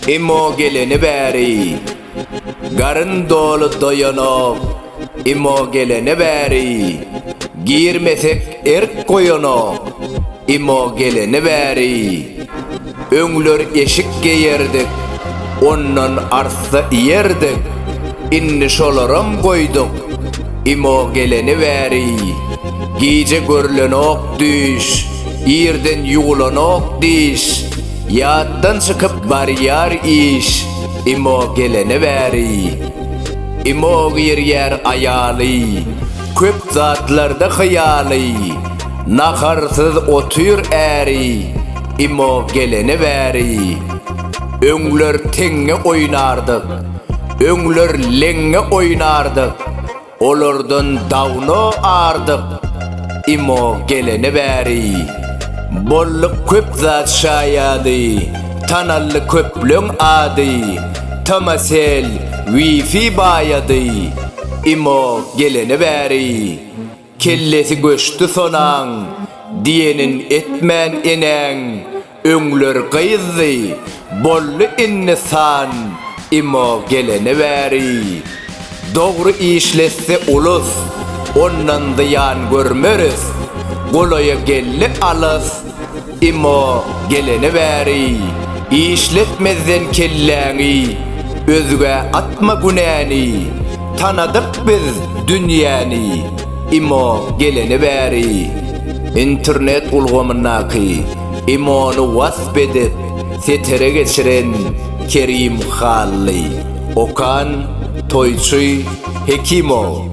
Imo geleni bäri Garyn doly doýanok Imo geleni bäri Girmesek erk goýanok Imo geleni bäri Öňler eşik geýerdik, ondan arssa iýerdik, indi şolaram goýduk. Imo geleni bäri, gije görlenok düýş, irden ýuwlanok diş, ýatdan çykyp barýar iş, Imo geleni bäri. Imo girýär aýaly, köp zatlarda hyýaly, naharsyz otyr äri, Imo gelene bäri Öňler teňňe oýnardyk Öňler leňňe oýnardyk Olardan dawno ardyk Imo gelene bäri Bolluk köp zat şaýady Tanaldy köpleň ady Tomasel wifi baýady Imo gelene bäri. Kellesi göçdi sonaň, diýenin etmän enäň, Öňler gyzdy, boldy indi san, imo gelene bäri. Dogry işletse ulus, ondan zyýan görmeris, Golaýa geldi alys, Emma geleni bäri işletmezden kelläňi özgä atma günäni Tanadyk biz dünýäni Emma geleni bäri internet ulgamyndaky Emony wasp edip setere geçiren Kerim Hally Okan Toýçy Hekimow.